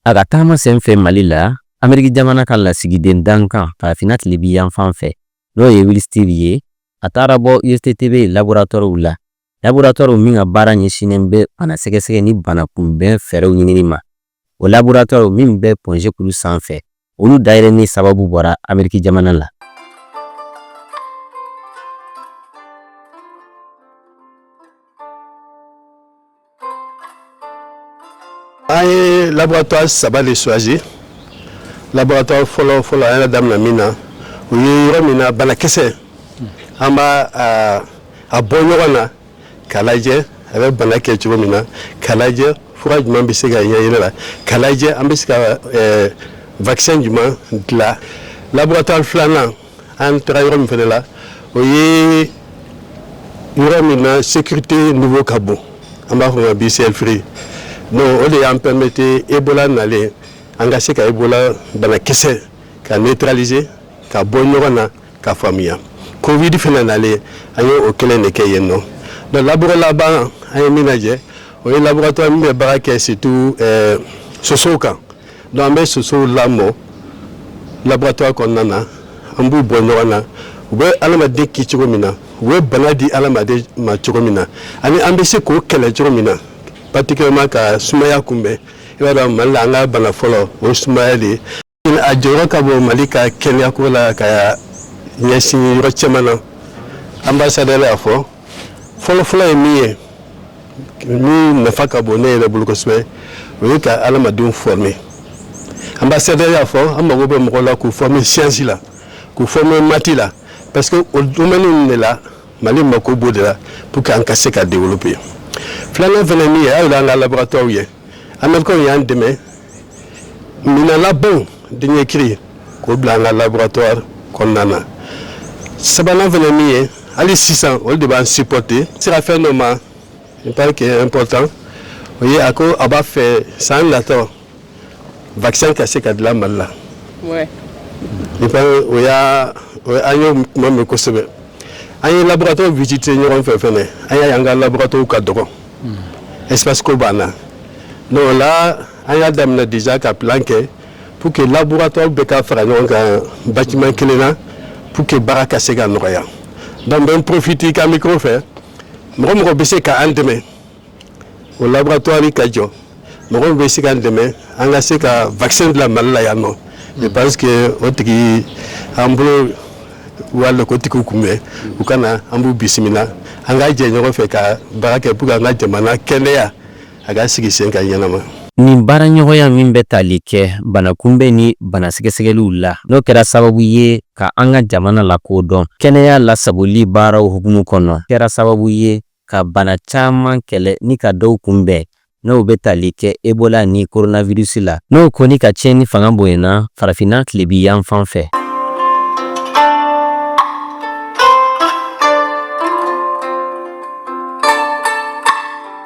A ka taama senfɛ Mali la, Ameriki jamana ka lasigiden dankan farafinna tilebinyanfan fɛ, n'o ye Will Stevens ye, a taara bɔ USTTB laboratɔriw la laboratɔriw min ka baara ɲɛsinnen bɛ bana sɛgɛsɛgɛ ni bana kunbɛn fɛɛrɛw ɲinini ma o laboratɔriw min bɛ Point G kulu sanfɛ olu dayɛlɛnni sababu bɔra ameriki jamana la an ye laboratoire saba de choisi laboratoire fɔlɔ fɔlɔ an y'a daminɛ min na o ye yɔrɔ min na banakisɛ an b'a bɔ ɲɔgɔn na k'a lajɛ a bɛ bana kɛ cogo min na k'a lajɛ fura jumɛn bɛ se ka ɲɛ yɛrɛ la k'a lajɛ an bɛ se ka vaccin jumɛn dilan laboratoire filanan an taara yɔrɔ min fana la o ye yɔrɔ min na sécurité niveau ka bon an b'a fɔ a ma BSL three donc o de y'an permettre Ebola nalen an ka se ka Ebola banakisɛ k'a neutraliser k'a bɔ ɲɔgɔn na k'a faamuya covid fana nalen an ye o kelen de kɛ yen nɔ donc laboratoire laban an ye min lajɛ o ye laboratoire min bɛ baara kɛ surtout eh, sosow kan Donc an bɛ sosow lamɔ laboratoire kɔnɔna na an b'u bɔ ɲɔgɔn na u bɛ adamaden kin cogo min na u bɛ bana di adamaden ma cogo min na ani an bɛ se k'o kɛlɛ cogo min na particulièrement ka sumaya kunbɛn i b'a dɔn mali la an ka bana fɔlɔ o sumaya de ye a jɔyɔrɔ ka bon mali ka kɛnɛyako la ka ɲɛsin yɔrɔ caman na ambassadeur y'a fɔ fɔlɔfɔlɔ ye min ye min nafa ka bon ne yɛrɛ bolo kosɛbɛ o ye ka adamadenw former ambassadeur y'a fɔ an mago bɛ mɔgɔ la k'u former science la k'u former maths la parce que o domaine ninnu de la mali mako b'o de la pour que an ka se ka développer filanan fana min ye aw yɛrɛ y'an ka laboratɔriw ye américains y'an dɛmɛ minɛn labanw dernier cri k'o bila an ka laboratoire kɔnɔna na sabanan fana min ye hali sisan olu de b'an supporter sera fɛn dɔ ma il paraît que est important o ye a ko a b'a fɛ san nata vaccin ka se ka dilan mali la il paraît o y'a an y'o kuma mɛn kosɛbɛ an ye laboratoire visiter ɲɔgɔn fɛ fɛnɛ an y'a ye an ka laboratoire ka dɔgɔ espace ko b'an na donc o la an y'a daminɛ déjà ka plan kɛ pour que laboratoire bɛɛ ka fara ɲɔgɔn kan bâtiment kelen na pour que baara ka se ka nɔgɔya donc bɛ n profite ka micro fɛ mɔgɔ o mɔgɔ bɛ se ka an dɛmɛ o laboratoire ka jɔ mɔgɔ min bɛ se k'an dɛmɛ an ka se ka vaccin dila mali la yan nɔ je pense que o tigi an bolo walen k'o tigiw kunbɛn u ka na an b'u bisimila an ka jɛ ɲɔgɔn fɛ ka baara kɛ pour que an ka jamana kɛnɛya a ka sigi sen kan ɲɛnama nin baaraɲɔgɔnya min bɛ tali kɛ banakunbɛn ni banasɛgɛsɛgɛliw la n'o kɛra sababu ye ka an ka jamana lakodɔn kɛnɛya lasagoli baaraw hukumu kɔnɔ kɛra sababu ye ka bana caman kɛlɛ ni ka dɔw kunbɛn n'o bɛ tali kɛ ebola ni koronavirisi la n'o ko nin ka tiɲɛni fanga bonyana farafinna tilebin yanfan fɛ